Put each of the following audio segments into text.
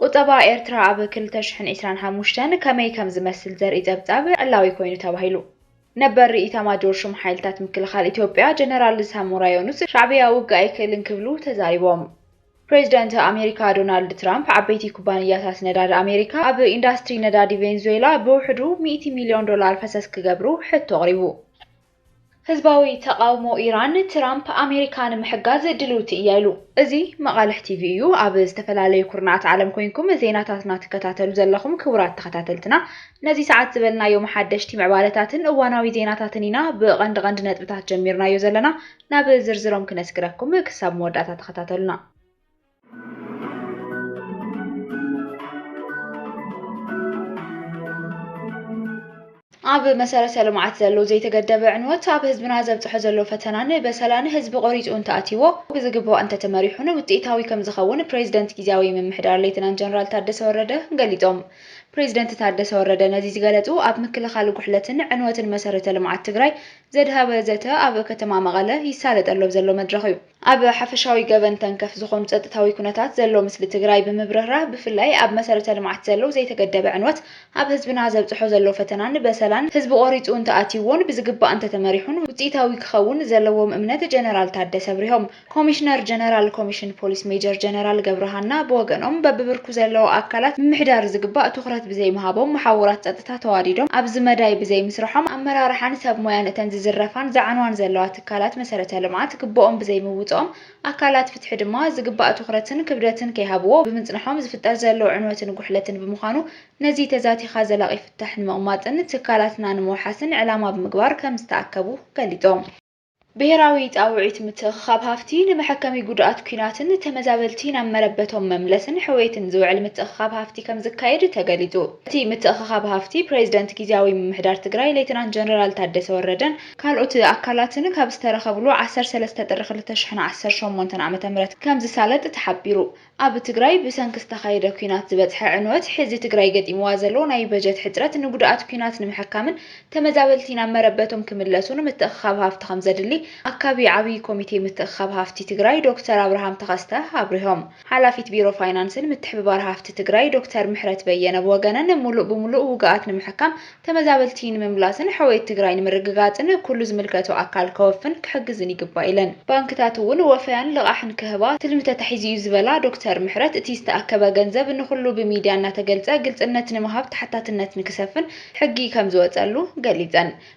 ቁጠባ ኤርትራ ኣብ ክልተ ሽሕን ዒስራን ሓሙሽተን ከመይ ከም ዝመስል ዘርኢ ጸብጻብ ዕላዊ ኮይኑ ተባሂሉ። ነበር ኢታማጆር ሹም ሓይልታት ምክልኻል ኢትዮጵያ ጀነራል ሳሞራ ዮኑስ፣ ሻዕብያ ውግእ ኣይክእልን ክብሉ ተዛሪቦም። ፕሬዚደንት ኣሜሪካ ዶናልድ ትራምፕ፣ ዓበይቲ ኩባንያታት ነዳዲ ኣሜሪካ ኣብ ኢንዳስትሪ ነዳዲ ቬንዙዌላ ብውሕዱ ሚእቲ ሚልዮን ዶላር ፈሰስ ክገብሩ ሕቶ ኣቕሪቡ። ህዝባዊ ተቓውሞ ኢራን፣ ትራምፕ ኣሜሪካ ንምሕጋዝ ድልውቲ እያ ኢሉ። እዚ መቓልሕ ቲቪ እዩ። ኣብ ዝተፈላለዩ ኩርናዓት ዓለም ኮይንኩም ዜናታትና ትከታተሉ ዘለኹም ክቡራት ተኸታተልትና፣ ነዚ ሰዓት ዝበልናዮም ሓደሽቲ ምዕባለታትን እዋናዊ ዜናታትን ኢና ብቐንዲ ቐንዲ ነጥብታት ጀሚርናዮ ዘለና። ናብ ዝርዝሮም ክነስግረኩም ክሳብ መወዳእታ ተኸታተሉና። ኣብ መሰረተ ልምዓት ዘሎ ዘይተገደበ ዕንወት ኣብ ህዝብና ዘብፅሖ ዘሎ ፈተናን በሰላን ህዝቢ ቆሪፁ እንተኣትይዎ ብዝግባእ እንተተመሪሑን ውፅኢታዊ ከምዝኸውን ፕሬዚደንት ጊዜያዊ ምምሕዳር ሌተናንት ጀነራል ታደሰ ወረደ ገሊፆም። ፕሬዚደንት ታደሰ ወረደ ነዚ ዝገለፁ ኣብ ምክልኻል ጉሕለትን ዕንወትን መሰረተ ልምዓት ትግራይ ዘድሃበ ዘተ ኣብ ከተማ መቐለ ይሳለጠሉ ኣብ ዘሎ መድረኽ እዩ። ኣብ ሓፈሻዊ ገበን ተንከፍ ዝኾኑ ፀጥታዊ ኩነታት ዘሎ ምስሊ ትግራይ ብምብርህራህ ብፍላይ ኣብ መሰረተ ልምዓት ዘሎ ዘይተገደበ ዕንወት ኣብ ህዝብና ዘብፅሖ ዘሎ ፈተናን በሰላን ህዝቢ ቆሪፁ እንተኣትይዎን ብዝግባእ እንተተመሪሑን ውፅኢታዊ ክኸውን ዘለዎም እምነት ጀነራል ታደሰ ኣብሪሆም። ኮሚሽነር ጀነራል ኮሚሽን ፖሊስ ሜጀር ጀነራል ገብረሃና ብወገኖም በቢብርኩ ዘለዉ ኣካላት ምምሕዳር ዝግባእ ትኹረት ብዘይምሃቦም መሓውራት ፀጥታ ተዋዲዶም ኣብዚ መዳይ ብዘይምስርሖም ኣመራርሓን ሰብ ሞያን እተን ዝዝረፋን ዝዓንዋን ዘለዋ ኣካላት መሰረተ ልምዓት ግቡኦም ብዘይምውፅኦም፣ ኣካላት ፍትሒ ድማ ዝግባእ ትኹረትን ክብደትን ከይሃብዎ ብምፅንሖም ዝፍጠር ዘሎ ዕንወትን ጉሕለትን ብምዃኑ ነዚ ተዛቲኻ ዘላቒ ፍታሕ ንምቕማጥን ትካላትና ንምውሓስን ዕላማ ብምግባር ከምዝተኣከቡ ገሊፆም። ብሄራዊ ፃውዒት ምትእኽኻብ ሃፍቲ ንመሐከሚ ጉዱኣት ኲናትን ተመዛበልቲ ናብ መረበቶም መምለስን ሕውየትን ዝውዕል ምትእኽኻብ ሃፍቲ ከምዝካየድ ተገሊፁ። እቲ ምትእኽኻብ ሃፍቲ ፕሬዚደንት ጊዚያዊ ምምሕዳር ትግራይ ሌተናንት ጀነራል ታደሰ ወረደን ካልኦት ኣካላትን ካብ ዝተረኸብሉ ዓሰርተ ሰለስተ ጥሪ ክልተ ሽሕን ዓሰርተ ሸሞንተን ዓመተ ምህረት ከምዝሳለጥ ተሓቢሩ። ኣብ ትግራይ ብሰንኪ ዝተኻየደ ኲናት ዝበፅሐ ዕንወት፣ ሕዚ ትግራይ ገጢምዋ ዘሎ ናይ በጀት ሕፅረት ንጉድኣት ኲናት ንምሕካምን ተመዛበልቲ ናብ መረበቶም ክምለሱን ምትእኽኻብ ሃፍቲ ከምዘድሊ ኣካቢ ዓብዪ ኮሚቴ ምትእኽኻብ ሃፍቲ ትግራይ ዶክተር ኣብርሃም ተኸስተ ኣብሪሆም። ሓላፊት ቢሮ ፋይናንስን ምትሕብባር ሃፍቲ ትግራይ ዶክተር ምሕረት በየነ ብወገነን፣ ሙሉእ ብሙሉእ ውጉኣት ንምሕካም፣ ተመዛበልቲ ንምምላስን ሕውየት ትግራይ ንምርግጋፅን ኩሉ ዝምልከቶ ኣካል ከወፍን ክሕግዝን ይግባእ ኢለን። ባንክታት እውን ወፈያን ልቓሕን ክህባ ትልሚ ተታሒዙ ኢዩ ዝበላ ዶክተር ምሕረት፣ እቲ ዝተኣከበ ገንዘብ ንኹሉ ብሚድያ እናተገልፀ ግልፅነት ንምሃብ ተሓታትነት ንክሰፍን ሕጊ ከምዝወፀሉ ገሊፀን።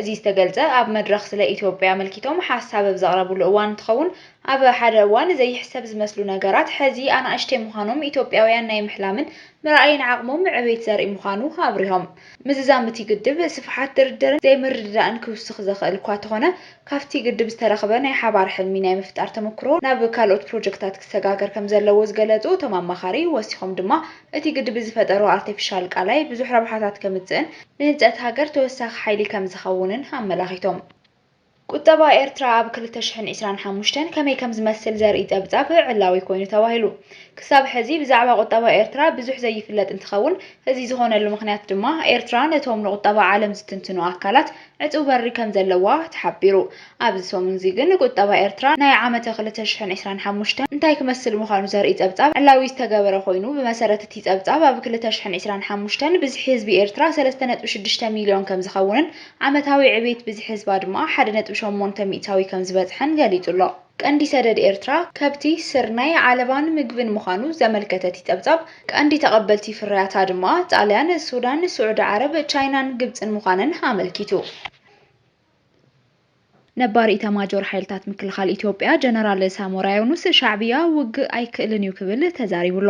እዚ ዝተገልፀ ኣብ መድረኽ ስለ ኢትዮጵያ ኣመልኪቶም ሓሳብ ኣብ ዘቕረብሉ እዋን እንትኸውን፣ ኣብ ሓደ እዋን ዘይሕሰብ ዝመስሉ ነገራት ሕዚ ኣናእሽተይ ምዃኖም ኢትዮጵያውያን ናይ ምሕላምን ምርኣይን ዓቕሞም ዕቤት ዘርኢ ምዃኑ ኣብሪሆም። ምዝዛም እቲ ግድብ ስፍሓት ድርድርን ዘይምርድዳእን ክውስኽ ዘኽእል እኳ ተኾነ ካብቲ ግድብ ዝተረኽበ ናይ ሓባር ሕልሚ ናይ ምፍጣር ተመኩሮ ናብ ካልኦት ፕሮጀክታት ክሰጋገር ከምዘለዎ ዝገለፁ እቶም ኣማኻሪ ወሲኾም ድማ እቲ ግድብ ዝፈጠሮ ኣርቴፊሻል ቃላይ ብዙሕ ረብሓታት ከምፅእን ንህንፀት ሃገር ተወሳኺ ሓይሊ ከምዝኸውንን ኣመላኺቶም። ቁጠባ ኤርትራ ኣብ ክልተ ሽሕን ዕስራን ሓሙሽተን ከመይ ከምዝመስል ዘርኢ ፀብፃብ ዕላዊ ኮይኑ ተባሂሉ። ክሳብ ሕዚ ብዛዕባ ቁጠባ ኤርትራ ብዙሕ ዘይፍለጥ እንትኸውን፣ እዚ ዝኾነሉ ምኽንያት ድማ ኤርትራ ነቶም ንቁጠባ ዓለም ዝትንትኑ ኣካላት ዕጽው በሪ ከም ዘለዋ ተሓቢሩ። ኣብዚ ሰሙን'ዚ ግን ቁጠባ ኤርትራ ናይ ዓመተ ክልተ ሽሕን ዕስራን ሓሙሽተን እንታይ ክመስል ምዃኑ ዘርኢ ጸብጻብ ዕላዊ ዝተገበረ ኮይኑ፣ ብመሰረት እቲ ጸብጻብ ኣብ ክልተ ሽሕን ዕስራን ሓሙሽተን ብዝሒ ህዝቢ ኤርትራ ሰለስተ ነጥቢ ሽዱሽተ ሚልዮን ከም ዝኸውንን ዓመታዊ ዕቤት ብዝሒ ህዝባ ድማ ሓደ ነጥቢ ሸሞንተ ሚእታዊ ከም ዝበጽሐን ገሊጹ ኣሎ። ቀንዲ ሰደድ ኤርትራ ከብቲ፣ ስርናይ፣ ዓለባን ምግብን ምዃኑ ዘመልከተቲ ጸብጻብ፣ ቀንዲ ተቐበልቲ ፍርያታ ድማ ጣልያን፣ ሱዳን፣ ስዑዲ ዓረብ፣ ቻይናን ግብጽን ምዃነን ኣመልኪቱ። ነባር ኢታማጆር ሓይልታት ምክልኻል ኢትዮጵያ ጀነራል ሳሞራ ዮኑስ፣ ሻዕብያ ውግእ ኣይክእልን እዩ ክብል ተዛሪቡ ኣሎ።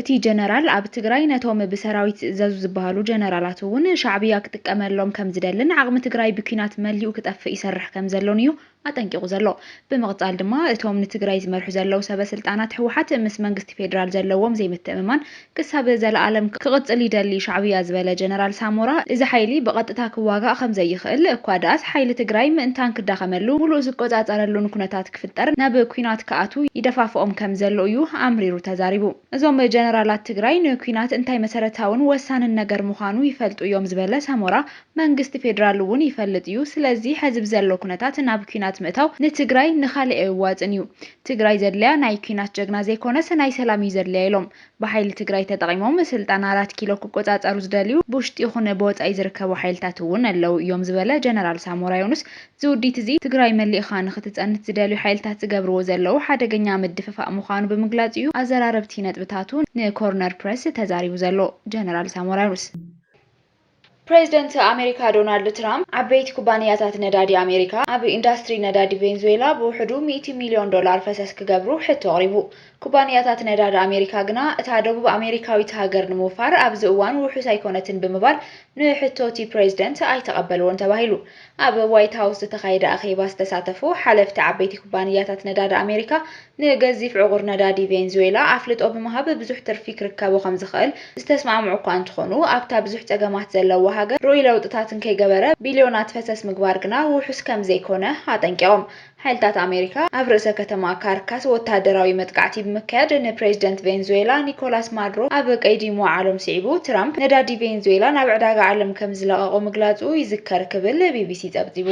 እቲ ጀነራል ኣብ ትግራይ ነቶም ብሰራዊት ዝእዘዙ ዝበሃሉ ጀነራላት እውን ሻዕብያ ክጥቀመሎም ከምዝደልን ዓቕሚ ትግራይ ብኲናት መሊኡ ክጠፍእ ይሰርሕ ከምዘሎን እዩ ኣጠንቂቑ ዘሎ። ብምቕፃል ድማ እቶም ንትግራይ ዝመርሑ ዘለዉ ሰበ ስልጣናት ህወሓት ምስ መንግስቲ ፌዴራል ዘለዎም ዘይምትእምማን ክሳብ ዘለኣለም ክቕፅል ይደሊ ሻዕብያ ዝበለ ጀነራል ሳሞራ እዚ ሓይሊ ብቐጥታ ክዋጋእ ከምዘይኽእል እኳ ድኣስ ሓይሊ ትግራይ ምእንታን ክዳኸመሉ ሙሉእ ዝቆፃፀረሉን ኩነታት ክፍጠር ናብ ኲናት ክኣትው ይደፋፍኦም ከምዘሎ እዩ ኣምሪሩ ተዛሪቡ። እዞም ጀነራላት ትግራይ ንኲናት እንታይ መሰረታውን ወሳንን ነገር ምዃኑ ይፈልጡ እዮም ዝበለ ሳሞራ፣ መንግስቲ ፌድራል እውን ይፈልጥ እዩ ስለዚ ሐዚ ብዘሎ ኩነታት ናብ ኩናት ምእታው ንትግራይ ንካሊእ ኣየዋፅእን እዩ ትግራይ ዘድልያ ናይ ኩናት ጀግና ዘይኮነስ ናይ ሰላም እዩ ዘድልያ ኢሎም ብሓይሊ ትግራይ ተጠቒሞም ስልጣን ኣራት ኪሎ ክቆፃፀሩ ዝደልዩ ብውሽጢ ይኹን ብወፃኢ ዝርከቡ ሓይልታት እውን ኣለው እዮም ዝበለ ጀነራል ሳሞራ ዮኑስ ዝውዲት እዚ ትግራይ መሊእኻ ንክትፀንት ዝደልዩ ሓይልታት ዝገብርዎ ዘለው ሓደገኛ ምድፍፋእ ምዃኑ ብምግላፅ እዩ ኣዘራረብቲ ነጥብታቱ ንኮርነር ፕረስ ተዛሪቡ ዘሎ ጀነራል ሳሞራ ዮኑስ። ፕሬዝደንት ኣሜሪካ ዶናልድ ትራምፕ፣ ዓበይቲ ኩባንያታት ነዳዲ ኣሜሪካ ኣብ ኢንዳስትሪ ነዳዲ ቬንዙዌላ ብውሕዱ ሚእቲ ሚልዮን ዶላር ፈሰስ ክገብሩ ሕቶ ኣቕሪቡ። ኩባንያታት ነዳዲ ኣሜሪካ ግና እታ ደቡብ ኣሜሪካዊት ሃገር ንምውፋር ኣብዚ እዋን ውሑስ ኣይኮነትን ብምባል ንሕቶ'ቲ ፕሬዝደንት ኣይተቐበልዎን ተባሂሉ። ኣብ ዋይት ሃውስ ዝተኻየደ ኣኼባ ዝተሳተፉ ሓለፍቲ ዓበይቲ ኩባንያታት ነዳዲ ኣሜሪካ፣ ንገዚፍ ዕቑር ነዳዲ ቬንዙዌላ ኣፍልጦ ብምሃብ ብዙሕ ትርፊ ክርከቦ ከምዝኽእል ዝተስማዕምዑ'ኳ እንተኾኑ፣ ኣብታ ብዙሕ ጸገማት ዘለዋ ሃገር ርኡይ ለውጥታት እንከይገበረ ቢልዮናት ፈሰስ ምግባር ግና ውሑስ ከምዘይኮነ ኣጠንቂቖም። ሓይልታት ኣሜሪካ ኣብ ርእሰ ከተማ ካርካስ ወተሃደራዊ መጥቃዕቲ ብምክያድ ንፕሬዚደንት ቬንዙዌላ ኒኮላስ ማዱሮ ኣብ ቀይዲ ምውዓሎም ስዒቡ ትራምፕ ነዳዲ ቬንዙዌላ ናብ ዕዳጋ ዓለም ከምዝለቐቖ ምግላፁ ይዝከር ክብል ቢቢሲ ፀብፂቡ።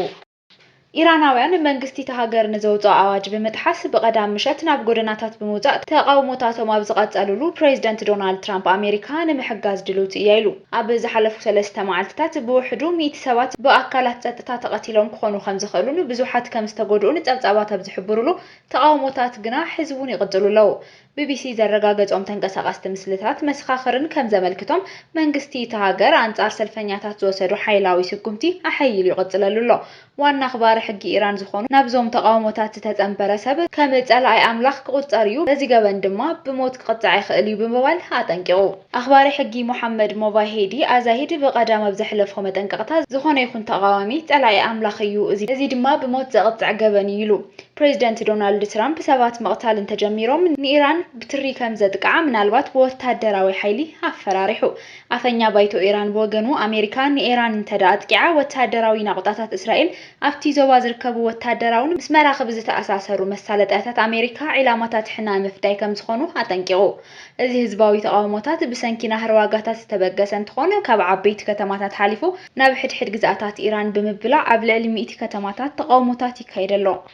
ኢራናውያን መንግስቲ እታ ሃገር ንዘውፅኦ ኣዋጅ ብምጥሓስ ብቀዳም ምሸት ናብ ጎደናታት ብምውፃእ ተቓውሞታቶም ኣብ ዝቐፀልሉ ፕሬዚደንት ዶናልድ ትራምፕ ኣሜሪካ ንምሕጋዝ ድልውቲ እያ ኢሉ። ኣብ ዝሓለፉ ሰለስተ መዓልቲታት ብውሕዱ ሚእቲ ሰባት ብኣካላት ጸጥታ ተቐቲሎም ክኾኑ ከምዝኽእሉን ብዙሓት ከምዝተጎድኡን ጸብጻባት ኣብ ዝሕብሩሉ፣ ተቓውሞታት ግና ሕዚ'ውን ይቕጽሉ ኣለዉ። ቢቢሲ ዘረጋገጾም ተንቀሳቐስቲ ምስልታት መሰኻኽርን ከምዘመልክቶም፣ መንግስቲ እታ ሃገር ኣንጻር ሰልፈኛታት ዝወሰዶ ሓይላዊ ስጉምቲ ኣሐይሉ ይቕጽለሉ ኣሎ። ዋና ኣኽባሪ ሕጊ ኢራን ዝኾኑ ናብዞም ተቓውሞታት ዝተጸንበረ ሰብ ከም ጸላኣይ ኣምላኽ ክቑጸር እዩ፣ በዚ ገበን ድማ ብሞት ክቕጻዕ ይኽእል እዩ ብምባል ኣጠንቂቑ። ኣኽባሪ ሕጊ ሞሓመድ ሞቫሄዲ ኣዛሂድ ብቐዳም ኣብ ዘሕለፎ መጠንቀቕታ፣ ዝኾነ ይኹን ተቓዋሚ ጸላኢ ኣምላኽ እዩ፣ እዚ ድማ ብሞት ዘቕጽዕ ገበን እዩ ኢሉ። ፕሬዝደንት ዶናልድ ትራምፕ ሰባት ምቕታል እንተጀሚሮም ንኢራን ብትሪ ከምዘጥቅዓ ምናልባት ብወታደራዊ ሓይሊ ኣፈራሪሑ። ኣፈኛ ባይቶ ኢራን ብወገኑ ኣሜሪካ ንኢራን እንተድኣ ኣጥቂዓ ወተሃደራዊ ናቑጣታት እስራኤል ኣብቲ ዞባ ዝርከቡ ወተሃደራውን ምስ መራኽብ ዝተኣሳሰሩ መሳለጥያታት ኣሜሪካ ዒላማታት ሕነ ምፍዳይ ከምዝኾኑ ኣጠንቂቑ። እዚ ህዝባዊ ተቓውሞታት ብሰንኪ ናህሪ ዋጋታት ዝተበገሰ እንትኾን ካብ ዓበይቲ ከተማታት ሓሊፉ ናብ ሕድሕድ ግዝኣታት ኢራን ብምብላዕ ኣብ ልዕሊ ሚእቲ ከተማታት ተቓውሞታት ይካየድ ኣሎ።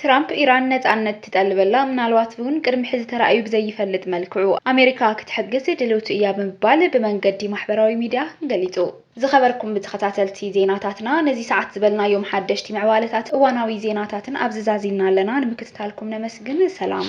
ትራምፕ ኢራን ነጻነት ትጠልበላ፣ ምናልባት'ውን ቅድሚ ሕዚ ተራእዩ ብዘይፈልጥ መልክዑ ኣሜሪካ ክትሕግዝ ድልውቲ እያ ብምባል ብመንገዲ ማሕበራዊ ሚድያ ገሊጹ። ዝኸበርኩም ተኸታተልቲ ዜናታትና ነዚ ሰዓት ዝበልናዮም ሓደሽቲ ምዕባለታትን እዋናዊ ዜናታትን ኣብዚ ዛዚምና ኣለና። ንምክትታልኩም ነመስግን። ሰላም።